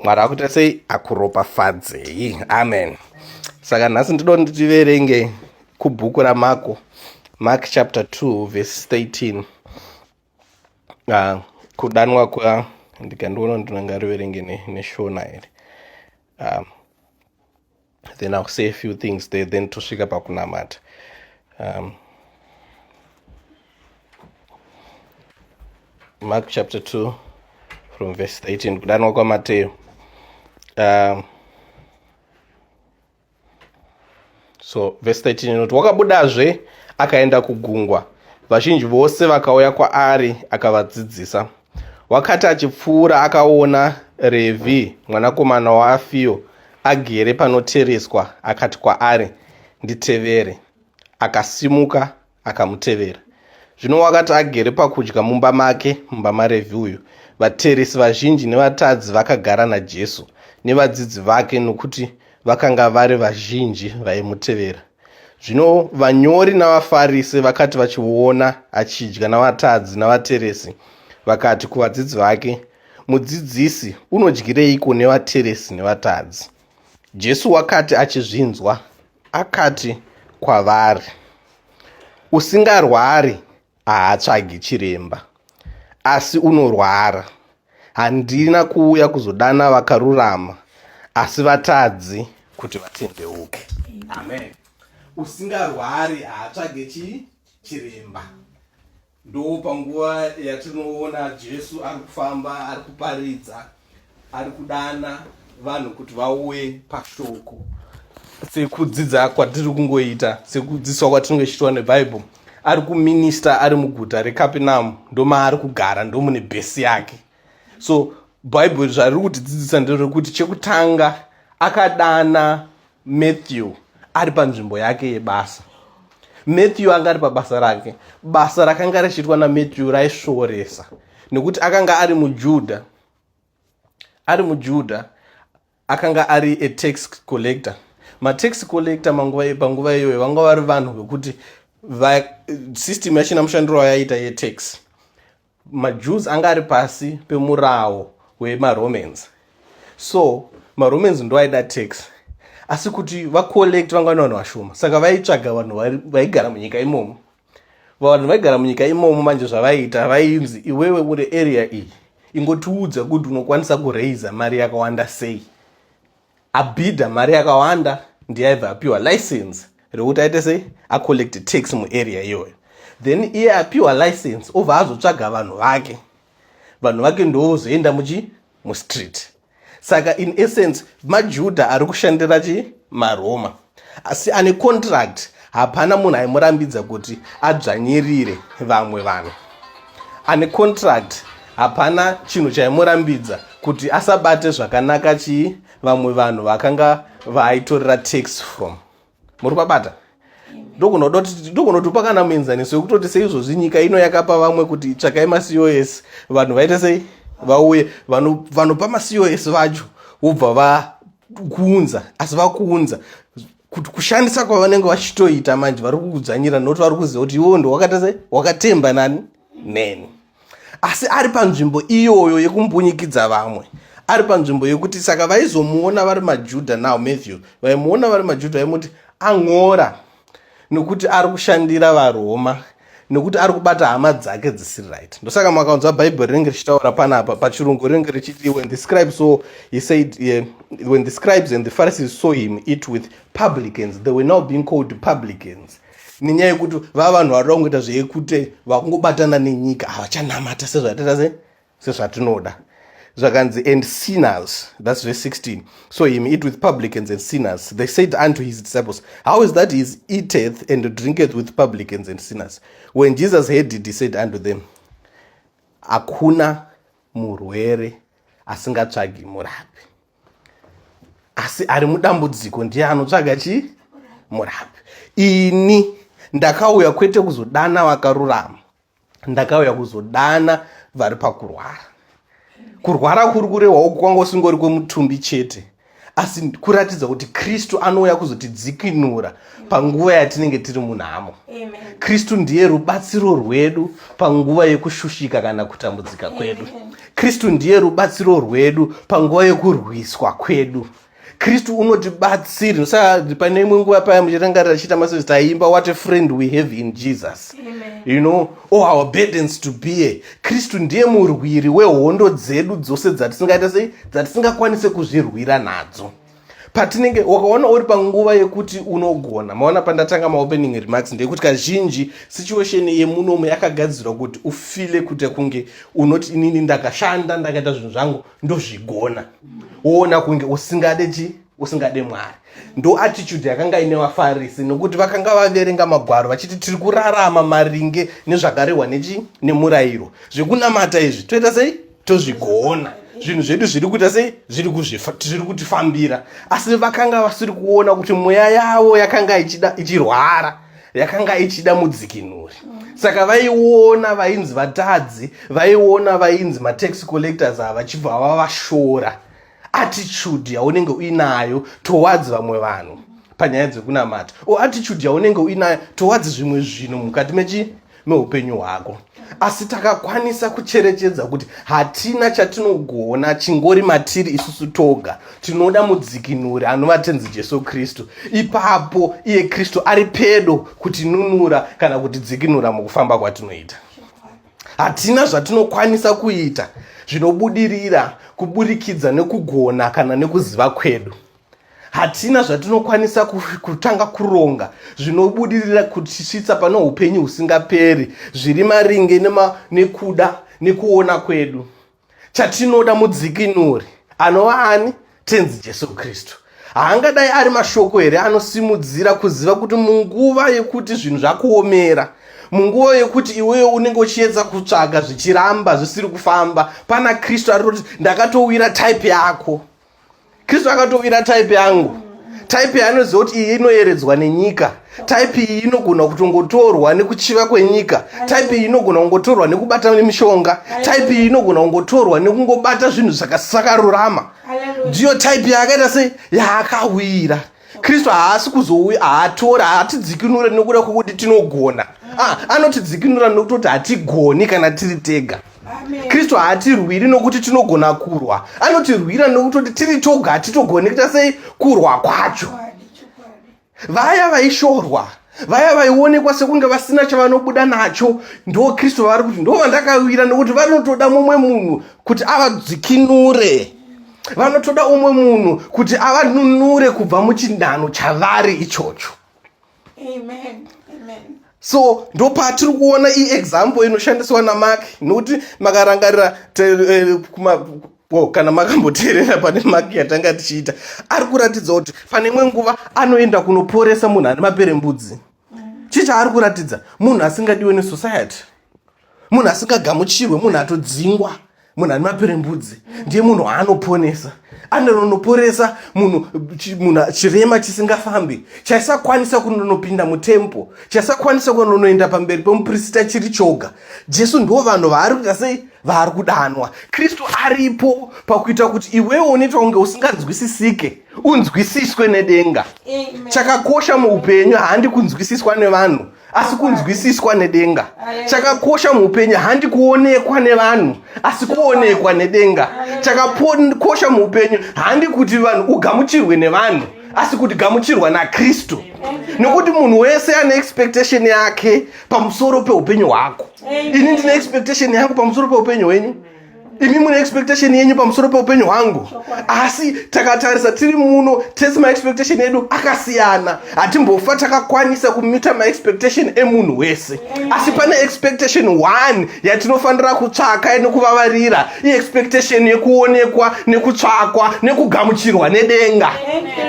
mwari akuita sei akuropafadzei amen saka nhasi ndido nditiverenge kubhuku ramako mark chapter 2 verse 13 uh, ah, kudanwa kwa ndikandiona ndinongariverenge neshona ne here um, then ill say a few things there then tosvika pakunamata um, mark chapter 2 from verse 18 kudanwa kwamateyo um, so verse 13 inoti wakabudazve akaenda kugungwa vazhinji vose vakauya kwaari akavadzidzisa Wakati achipfuura akaona Revhi mwanakomana waAfio agere panotereswa akati kwaari, Nditevere. Akasimuka akamutevera. Zvino wakati agere pakudya mumba make, mumba maRevhi uyu, vateresi vazhinji nevatadzi vakagara naJesu nevadzidzi vake nokuti vakanga vari vazhinji vaimutevera. Zvino vanyori navaFarise vakati vachiona achidya navatadzi navateresi, vakati kuvadzidzi vake, Mudzidzisi, unodyireiko nevateresi nevatadzi? Jesu wakati achizvinzwa, akati kwavari, Usingarwari haatsvagi chiremba asi unorwara handina kuuya kuzodana vakarurama asi vatadzi kuti vatendeuke amen usingarwari haatsvage chii chiremba ndo panguva yatinoona jesu ari kufamba ari kuparidza ari kudana vanhu kuti vauye pashoko sekudzidza kwatiri kungoita sekudzidziswa kwatinenge tichiitwa nebhaibheri ari kuminista ari muguta rekapinamu ndomaari kugara ndomune bhesi yake so bhaibheri zvariri kutidzidzisa nderekuti chekutanga akadana Matthew ari panzvimbo yake yebasa. Matthew anga ari pabasa rake. Basa rakanga richiitwa naMatthew raisvoresa nekuti akanga ari muJudha. Ari muJudha akanga ari a tax collector. Matax collector manguva panguva iyoyo vanga vari vanhu vekuti system yachina mushandiro wayaiita yetax. majews anga ari pasi pemurawo wemaromans so maromans ndo aida tax asi kuti vacollect vanga vane vanhu vashoma saka vaitsvaga vanhu vaigara munyika imomo vanhu vaigara munyika imomo manje zvavaiita vainzi iwewe uri area iyi ingotiudza kuti unokwanisa kuraiza mari yakawanda sei abhidha mari yakawanda ndiye aibva apiwa license rekuti aite sei acollect tax muarea iyoyo then iye apiwa license obva azotsvaga vanhu vake vanhu vake ndovozoenda muchi mustreet saka in essence majudha ari kushandira chi maroma asi ane contract hapana munhu aimurambidza kuti adzvanyirire vamwe vanhu ane contract hapana chinhu chaimurambidza kuti asabate zvakanaka chii vamwe vanhu vakanga vaaitorera tax from muri kwabata ndokunotopa kana muenzaniso wekutoti seizvozvi nyika ino yakapa vamwe kuti tsvakai macos vanhu vaite sei vauye vanopa macos vacho vobva kuunza asi vakuunza kuti kushandisa kwavanenge vachitoita manje vari kukudzvanyira nokuti vari kuziva kuti iwo ndowakata sei wakatemba nani neni asi ari panzvimbo iyoyo yekumbunyikidza vamwe ari panzvimbo yekuti saka vaizomuona vari majudha now matthew vaimuona vari majudha vaimuti ang'ora ah, nokuti ari kushandira varoma nokuti ari kubata hama dzake dzisiri right ndosaka makaunzwa bhaibheri rinenge richitaura panapa pachirungu rinenge richiti when the scribes saw he said uh, when the scribes and the pharisees saw him eat with publicans they were now being called publicans nenyaya yekuti vava vanhu vari kungoita zveyekute vakungobatana nenyika havachanamata sezvatita se sezvatinoda zvakanzi and sinners thats verse 16 so him eat with publicans and sinners they said unto his disciples how is that his eateth and drinketh with publicans and sinners when jesus heard it he said unto them hakuna murwere asingatsvagi murapi asi ari mudambudziko ndiye anotsvaga chii murapi ini ndakauya kwete kuzodana vakarurama ndakauya kuzodana vari pakurwara kurwara kuri kurehwawo kwanga usingori kwemutumbi chete asi kuratidza kuti kristu anouya kuzotidzikinura panguva yatinenge tiri munhamo kristu ndiye rubatsiro rwedu panguva yekushushika kana kutambudzika kwedu kristu ndiye rubatsiro rwedu panguva yekurwiswa kwedu Amen. kristu unotibatsiri saka pane imwe nguva paya muchirangarira chiita masezi taiimba what a friend we have in jesus Amen. you know all oh, our burdens to bear kristu ndiye murwiri wehondo dzedu dzose dzatisingaita sei dzatisingakwanise kuzvirwira nadzo patinenge wakaona uri panguva yekuti unogona maona pandatanga maopening remarks ndeyekuti kazhinji situation yemunomu yakagadzirwa kuti ufile kuita kunge unoti inini ndakashanda ndakaita zvinhu zvangu ndozvigona woona kunge usingade chi usingade mwari ndo attitude yakanga ine vafarisi nokuti vakanga vaverenga magwaro vachiti tiri kurarama maringe nezvakarehwa nechi nemurayiro zvekunamata izvi toita sei tozvigona zvinhu zvedu zviri kuita sei zviri zviri kutifambira asi vakanga vasiri kuona kuti mweya yavo yakanga ichirwara yakanga ichida mudzikinuri saka vaiona vainzi vatadzi vaiona vainzi matax collectors ava vachibva vava vashora attitude yaunenge uinayo towards vamwe vanhu panyaya dzekunamata o attitude yaunenge uinayo towards zvimwe zvinhu mukati mechi meupenyu hwako asi takakwanisa kucherechedza kuti hatina chatinogona chingori matiri isusu toga tinoda mudzikinuri anova tenzi jesu kristu ipapo iye kristu ari pedo kutinunura kana kutidzikinura mukufamba kwatinoita hatina zvatinokwanisa kuita zvinobudirira kuburikidza nekugona kana nekuziva kwedu hatina zvatinokwanisa kutanga kuronga zvinobudirira kutisvitsa pane upenyu husingaperi zviri maringe nema, nekuda nekuona kwedu chatinoda mudzikinuri anova ani tenzi jesu kristu haangadai ari mashoko here anosimudzira kuziva kuti munguva yekuti zvinhu zvakuomera munguva yekuti iweyo unenge uchiedza kutsvaga zvichiramba zvisiri kufamba pana kristu ari kuti ndakatowira type yako kristu akatovira type yangu type yaanoziva kuti iyi inoyeredzwa nenyika type iyi inogona kutongotorwa nekuchiva kwenyika type iyi inogona kungotorwa nekubata nemishonga type iyi inogona kungotorwa nekungobata zvinhu zvakasakarurama ndiyo type yaakaita se yaakawira kristu haasi kuzouya haatora haatidzikinure nokuda kwokuti tinogona ah, anotidzikinura nokutoti hatigoni kana tiri tega kristu haatirwiri nokuti tinogona kurwa anotirwira nokutoti tiri toga hatitogoni kuita sei kurwa kwacho vaya vaishorwa vaya vaionekwa sekunge vasina chavanobuda nacho ndo kristu vavari kuti ndo vandakawira nekuti vanotoda mumwe munhu kuti avadzikinure vanotoda umwe munhu kuti avanunure kubva muchinhano chavari ichocho Amen. Amen. so ndo patiri kuona iexample inoshandiswa namak nokuti makarangarira eh, ko kana makamboteerera pane maki yatanga tichiita ari kuratidza kuti pane imwe nguva anoenda kunoporesa munhu ane maperembudzi chii chaari kuratidza munhu asingadiwe nesociety munhu asingagamuchirwe munhu atodzingwa munhu ane maperembudzi ndiye munhu waanoponesa anononoporesa munhu munhu chirema chisingafambi chaisakwanisa kunonopinda mutempo chaisakwanisa kunonoenda pamberi pemuprista chiri choga jesu ndo vanhu vaari kuita sei vaari kudanwa kristu aripo pakuita kuti iwewo unoita kunge usinganzwisisike unzwisiswe nedenga chakakosha muupenyu handi kunzwisiswa nevanhu asi kunzwisiswa nedenga chakakosha muupenyu handi kuonekwa nevanhu asi kuonekwa nedenga chakakosha muupenyu handi kuti vanhu ugamuchirwe nevanhu asi kuti gamuchirwa nakristu nokuti munhu wese ane expectation yake pamusoro peupenyu hwako ini ndine expectation yangu pamusoro peupenyu hwenyu imi mune expectation yenyu pamusoro peupenyu hwangu asi takatarisa tiri muno tese maexpectation edu akasiyana hatimbofa takakwanisa kumita maexpectation emunhu wese asi pane expectation one yatinofanira kutsvaka nekuvavarira iexpectation yekuonekwa nekutsvakwa nekugamuchirwa nedenga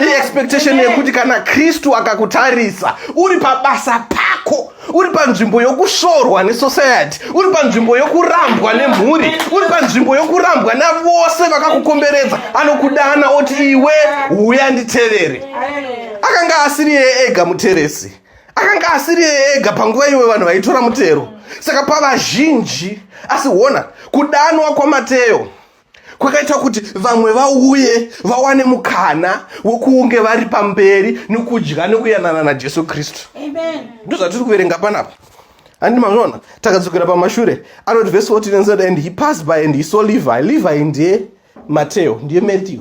iexpectation yekuti kana kristu akakutarisa uri pabasa pako uri panzvimbo yokushorwa nesociety uri panzvimbo yokurambwa nemhuri uri panzvimbo yokurambwa navose vakakukomberedza anokudana oti iwe huya nditevere akanga asiri yeye ega muteresi akanga asiri yeye ega panguva iwe vanhu vaitora mutero saka pavazhinji asi hona kudanwa kwamateyo kwakaita kuti vamwe vauye vawane mukana wokunge vari pamberi nokudya nokuyanana najesu kristu ndozvatiri kuverenga panapa handi mazvona takadzokera pamashure anoti vhesi 14 and said and he passed by and he saw levi levi ndiye mateo ndiye matthew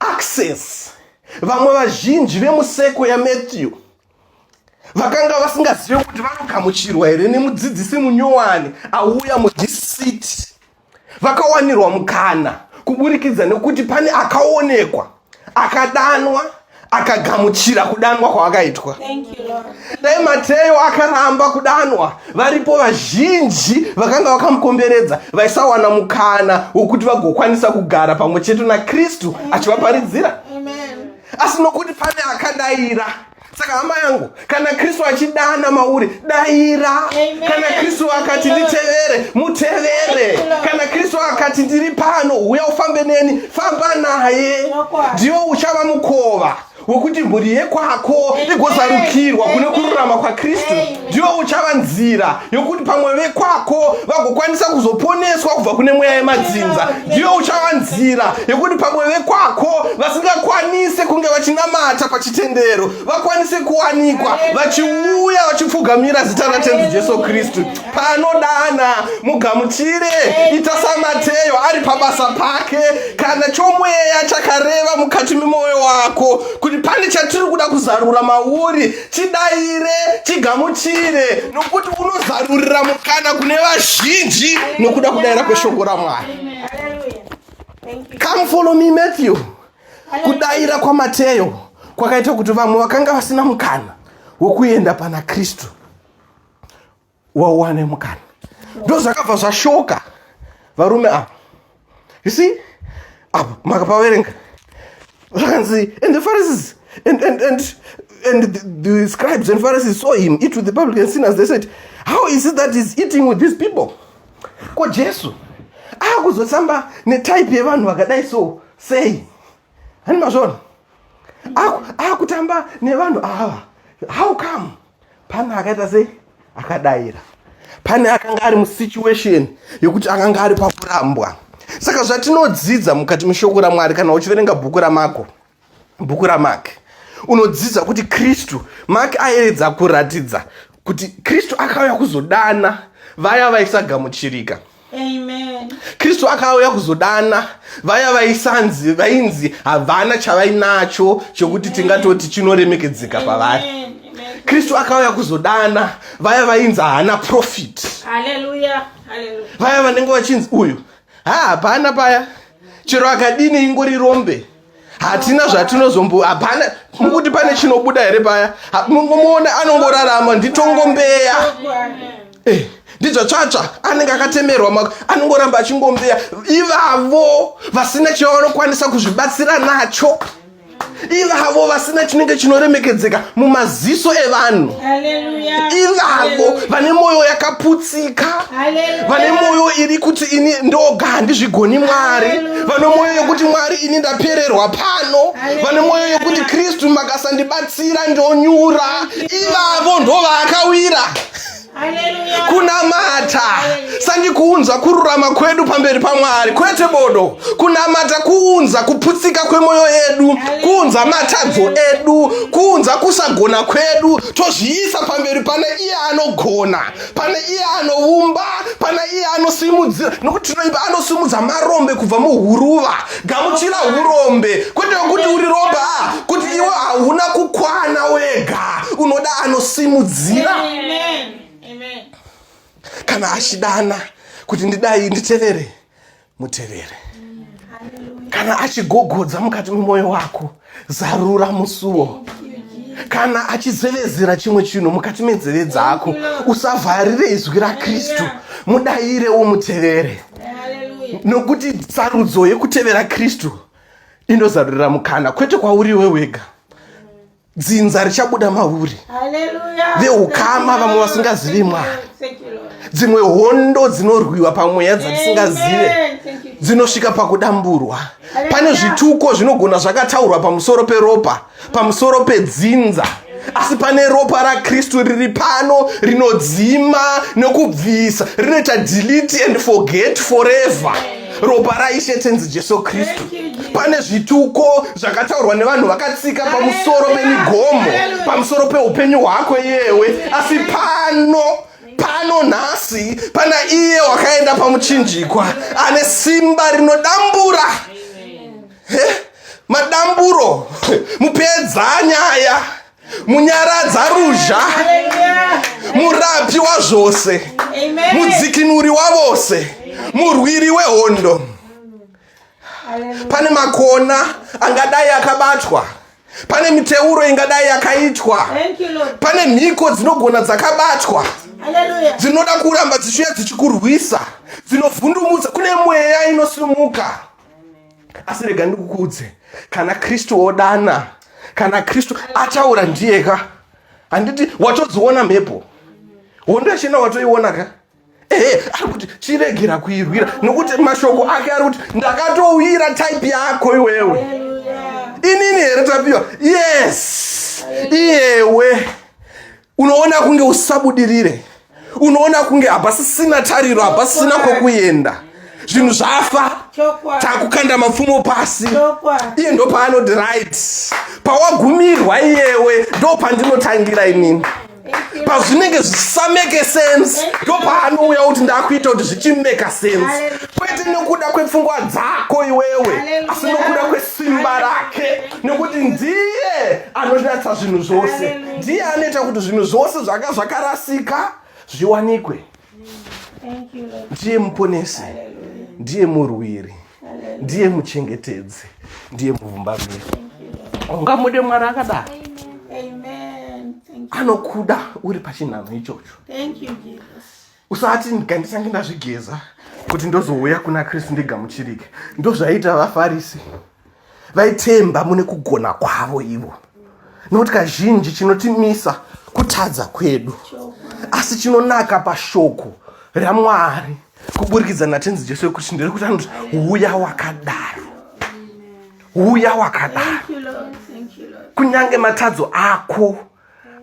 access vamwe vazhinji vemuseko yamatthew vakanga vasingazive kuti vanogamuchirwa here nemudzidzisi munyowani auya mudhisiti vakawanirwa mukana kuburikidza nekuti pane akaonekwa akadanwa akagamuchira kudanwa kwavakaitwa dai mateyo akaramba kudanwa varipo vazhinji vakanga vakamukomberedza vaisawana mukana wokuti vagokwanisa kugara pamwe chete nakristu achivaparidzira asi nokuti pane akadaira saka hama yangu kana kristu achidana mauri daira kana kristu akati nditevere mutevere kana kristu akati ndiri pano uya ufambe neni famba naye ndiwo uchava mukova wekuti mhuri yekwako igozarukirwa kune kururama kwakristu ndiwo uchava nzira yokuti pamwe vekwako vagokwanisa kuzoponeswa kubva kune mweya yemadzinza ndiwo uchava nzira yokuti pamwe vekwako vasingakwanise kunge vachinamata pachitendero vakwanise kuwanikwa vachiuya vachipfugamira zita ratenzi jesu kristu paanodana mugamuchire ita samateyo ari pabasa pake kana chomweya chakareva mukati memwoyo wako kuti pane chatiri kuda kuzarura mauri chidaire chigamuchire nokuti unozarurira mukana kune vazhinji nokuda kudaira kweshoko ramwari come follow me matthew kudaira kwamateyo kwakaita kuti vamwe vakanga vasina mukana wokuenda pana kristu wawane mukana ndozvakabva zvashoka varume ava you see apa makapaverenga zvakanzi and the pharisees and, and, and, and the, the scribes and pharisees saw him eat with the public and sinners they said how is it that he's eating with these people ko jesu akuzotamba netype yevanhu vakadai so sei hani mazvona akutamba nevanhu ava how come pane akaita sei akadaira pane akanga ari musituation yekuti akanga ari pakurambwa saka zvatinodzidza mukati meshoko ramwari kana uchiverenga bhuku ramako bhuku ramak unodzidza kuti kristu mak ayeredza kuratidza kuti kristu akauya kuzodana vaya vaisagamuchirika kristu akauya kuzodana vaya vaisanzi vainzi havana chavainacho chokuti tingatoti chinoremekedzeka pavari kristu akauya kuzodana vaya vainzi haana profit vaya vanenge vachinzi uyu ha hapana paya chero akadini ingori rombe hatina zvatinozombo hapana mukuti pane chinobuda here paya mungomuona anongorarama nditongombeya eh, ndidzvatsvatsva anenge akatemerwa mako anongoramba achingombeya ivavo vasina chavanokwanisa kuzvibatsira nacho ivavo vasina chinenge chinoremekedzeka mumaziso evanhu ivavo vane mwoyo yakaputsa tsika vane mwoyo iri kuti ini ndoga handizvigoni mwari vane mwoyo yekuti mwari ini ndapererwa pano vane mwoyo yekuti kristu makasandibatsira ndonyura ivavo ndovakawira kunamata sandikuunza kururama kwedu pamberi pamwari kwete bodo kunamata kuunza kuputsika kwemwoyo yedu kuunza matadzo edu kuunza kusagona kwedu tozviisa pamberi pane iye anogona pane iye anoumba pana iye anosimudzira nokuti tinoimba anosimudza marombe kubva muhuruva gamuchira urombe kwete kuti uri rombe a kuti iwe hauna kukwana wega unoda anosimudzira kana achidana kuti ndidai nditevere mutevere kana achigogodza mukati memwoyo wako zarura musuwo kana achizevezera chimwe chinhu mukati menzeve dzako usavharire izwi rakristu mudayire umutevere nokuti sarudzo yekutevera kristu inozarurira mukana kwete kwauri iwe wega dzinza richabuda mauri veukama vamwe vasingazivi mwari dzimwe hondo dzinorwiwa pamweya dzatisingazive dzinosvika pakudamburwa pane zvituko zvinogona zvakataurwa pamusoro peropa pamusoro pedzinza asi pane ropa rakristu riri pano rinodzima nokubvisa rinoita delete and forget forever ropa raishe tenzi jesu kristu pane zvituko zvakataurwa nevanhu vakatsika pamusoro pemigomo pamusoro peupenyu hwako yewe asi pano pano nhasi pana iye wakaenda pamuchinjikwa ane simba rinodambura madamburo mupedza nyaya munyaradza ruzha murapi wazvose mudzikinuri wavose murwiri wehondo pane makona angadai akabatwa pane miteuro ingadai yakaitwa pane mhiko dzinogona dzakabatwa dzinoda kuramba dzichiuya dzichikurwisa dzinovhundumudza kune mweya inosimuka asi rega ndikukuudze kana kristu odana kana kristu ataura ndiye ka handiti watodziona mhepo hondo yachina watoiona ka ehe ari kuti chiregera kuirwira nokuti mashoko ake ari kuti ndakatowira type yako iwewe inini here tapiwa yes iyewe unoona kunge usabudirire unoona kunge hapasisina tariro hapasisina kwokuenda zvinhu zvafa takukanda mapfumo pasi iye ndo paanoti right pawagumirwa iyewe ndo pandinotangira inini pazvinenge zvisameke sense ndo paanouya kuti ndakuita kuti zvichimeka sense kwete nekuda kwepfungwa dzako iwewe asi nokuda kwesimba rake nekuti ndiye anonatsa zvinhu zvose ndiye anoita kuti zvinhu zvose zvanga zvakarasika zviwanikwe ndiye muponesi ndiye murwiri ndiye muchengetedzi ndiye muvumbamiri ungamude mwari akadaro anokuda uri pachinhanho ichocho usati ndikandisange ndazvigeza kuti ndozouya kuna kristu ndigamuchirike ndozvaiita vafarisi vaitemba mune kugona kwavo ivo nokuti kazhinji chinotimisa kutadza kwedu asi chinonaka pashoko ramwari kuburikidza natenzi jesu wekuti ndirikuti anoti uya wakadaro uya wakadaro kunyange matadzo ako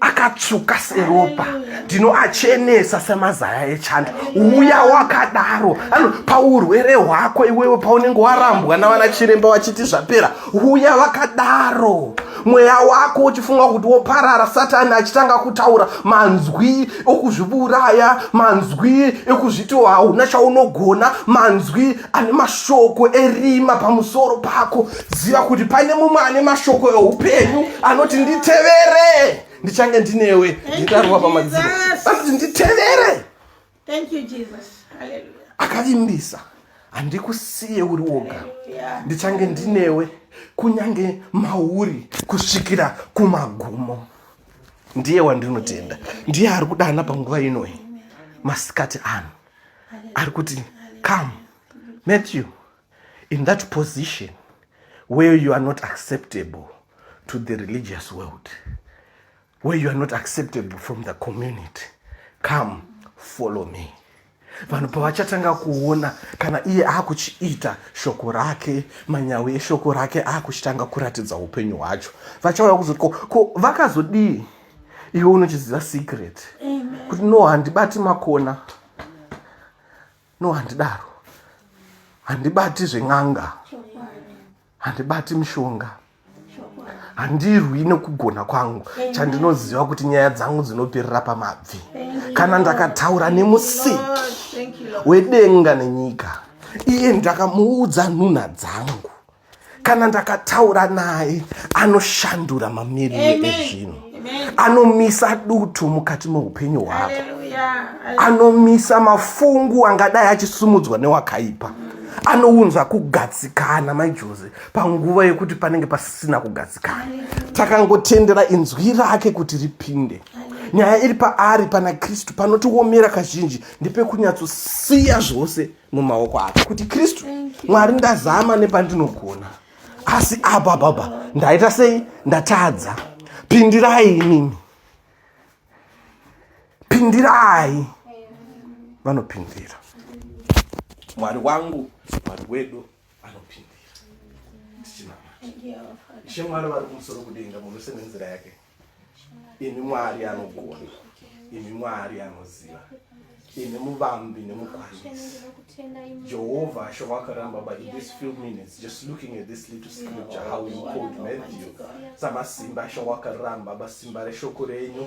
akatsvuka seropa ndinoachenesa semazaya echando uya wakadaro ano paurwere hwako iwewe paunenge warambwa navana chiremba vachiti zvapera uya vakadaro mweya wako uchifunga kuti woparara satani achitanga kutaura manzwi okuzviburaya manzwi ekuzviti hauna chaunogona manzwi ane mashoko erima pamusoro pako ziva kuti pane mumwe ane mashoko eupenyu anoti nditevere ndichange ndinewe nditarwa pamadziro anoti nditevere akavimbisa handikusiye uri woga ndichange ndinewe kunyange mauri kusvikira kumagumo ndiye wandinotenda ndiye ari kudana panguva inoyi masikati ano ari kuti come matthew in that position where you are not acceptable to the religious world where you are not acceptable from the community come follow me vanhu pavachatanga kuona kana iye akuchiita shoko rake manyawi eshoko rake akuchitanga kuratidza upenyu hwacho vachauya kuzoti ko vakazodii ko, iwe unochiziva secret kuti no handibati makona no handidaro handibati zven'anga handibati mishonga handirwi nekugona kwangu chandinoziva kuti nyaya dzangu dzinoperera pamabvi kana ndakataura nemusiki wedenga nenyika iye ndakamuudza nhunha dzangu kana ndakataura naye anoshandura mamiriro ezvinhu anomisa dutu mukati meupenyu hwako anomisa mafungu angadai achisumudzwa newakaipa anounza kugatsikana maijoze panguva yekuti panenge pasisina kugatsikana takangotendera inzwi rake kuti ripinde nyaya iri paari pana kristu panotiomera kazhinji ndepekunyatso siya zvose mumaoko ake kuti kristu mwari ndazama nepandinogona asi apa baba ndaita sei ndatadza pindirai inini pindirai vanopindira mwari wangu mwari wedu anopindira tichinamata ishe mwari vari kumusoro kudenga munhu wese nenzira yake imi mwari anogona imi mwari anoziva imi muvambi nemukwanisi jehovha asho wakaramba but in this few minutes just looking at this little scripture how you called matthew samasimba asho wakaramba basimba reshoko renyu